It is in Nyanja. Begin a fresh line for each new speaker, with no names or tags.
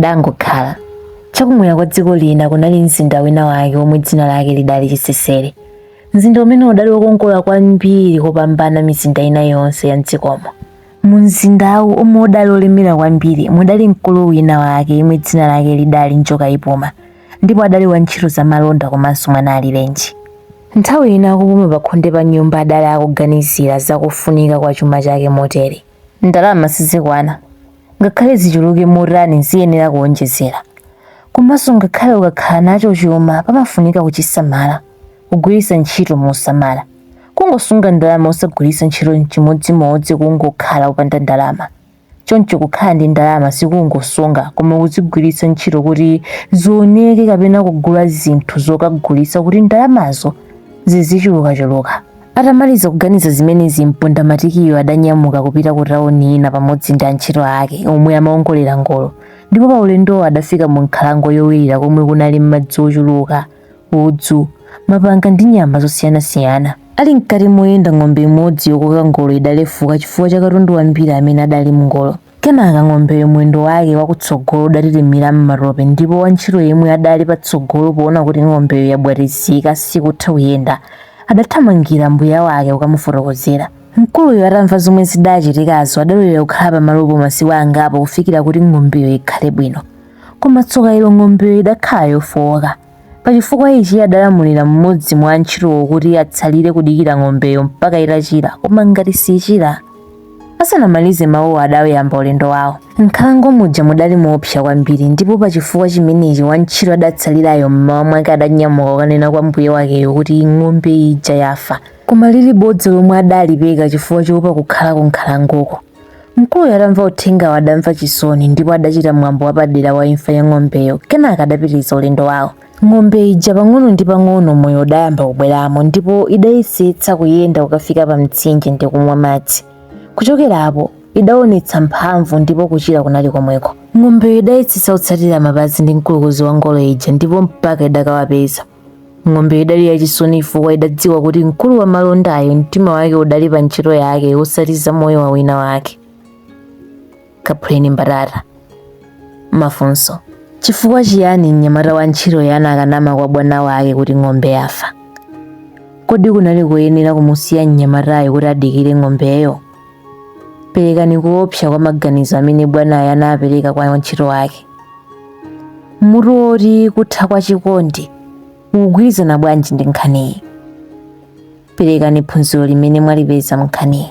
Padangokhala. Chakumwera kwa dziko lina kunali mzinda wina wake womwe dzina lake lidali Chisesere. Mzinda umene udali wokongola kwambiri kopambana mizinda ina yonse ya mdzikomo. Mu mzindawu omwe udali olemera kwambiri mudali mkulu wina wake yemwe dzina lake lidali Njoka Ipuma ndipo adali wa ntchito za malonda komanso mwana alirenji. Nthawi ina akupuma pakhonde pa nyumba adali akuganizira za kufunika kwa chuma chake motere. Ndalama sizikwana. Ngakhale zichuluke motani ziyenera kuwonjezera. Komanso ngakhale ukakhala nacho chuma pamafunika kuchisamala, kugwiritsa ntchito mosamala. Kungosunga ndalama osagwiritsa ntchito chimodzimodzi kungokhala opanda ndalama. Choncho kukhala ndi ndalama si kungosunga koma kuzigwiritsa ntchito kuti zioneke kapena kugula zinthu zokagulitsa kuti ndalamazo zizichulukachuluka. Atamaliza kuganiza zimenezi, mpondamatikiyo adanyamuka kupita ku tawuni ina pamodzi ndi antchito ake omwe amaongolera ngolo, ndipo pa ulendowo adafika mu nkhalango yowirira komwe kunali madzi ochuluka, udzu, mapanga ndi nyama zosiyanasiyana. Ali mkati moyenda ng'ombe imodzi yokoka ngolo idalefuka chifukwa cha katundu wambiri amene adali m'ngolo. Kenaka ng'ombeyo mwendo wake wakutsogolo udatitimira m'matope ndipo wantchito yemwe adali patsogolo poona kuti ng'ombeyo yabwatizika sikutha kuyenda, adathamangira mbuya wake kukamufotokozera. Mkuluyo atamva zomwe zidachitikazo adalolera kukhala pamalopo masiku angapo kufikira kuti ng'ombeyo ikhale bwino. Koma tsoka ilo ng'ombeyo idakhala yofooka. Pa chifukwa ichi adalamulira mmodzi mwa antchitowo kuti atsalire kudikira ng'ombeyo mpaka itachira, koma ngati sichira. Asanamalize mawuwo adauyamba ulendo wawo. M'nkhalango muja mudali moopsa kwambiri ndipo pa chifukwa chimenechi wantchito adatsalirayo m'mawa mwake adanyamuka kukanena kwa mbuye wakeyo kuti ng'ombe ija yafa, koma lili bodza lomwe adalipeka chifukwa choopa kukhalako m'nkhalangoko. Mkuluyo atamva uthengawo adamva chisoni ndipo adachita mwambo wapadera wa imfa ya ng'ombeyo kenaka adapitiriza ulendo wawo. Ng'ombe ija pang'ono ndi pang'ono moyo udayamba kubweramo ndipo idayesetsa kuyenda kukafika pa mtsinje ndi kumwa madzi. Kuchokerapo idaonetsa mphamvu ndipo kuchira kunali komweko. Ng'ombeyo idayesetsa kutsatira mapazi ndi mkulukuzi wa ngolo ija ndipo mpaka idakawapeza. ng'ombeyi idali yachisoni chifukwa idadziwa kuti mkulu wa malondayo mtima wake udali pa ntchito yake osati za moyo wa wina wake kaphuleni mbatata mafunso chifukwa chiyani mnyamata wa ntchitoyu anakanama kwa bwana wake kuti ng'ombe yafa kodi kunali koyenera kumusiya mnyamatayo kuti adikire ng'ombeyo Perekani kuopsa kwa maganizo amene bwanayo anapereka kwa wantchito wake. Mutu woti kutha kwa chikondi ukugwirizana bwanji ndi nkhaniyi? Perekani phunziro limene mwalipeza m'nkhaniyi.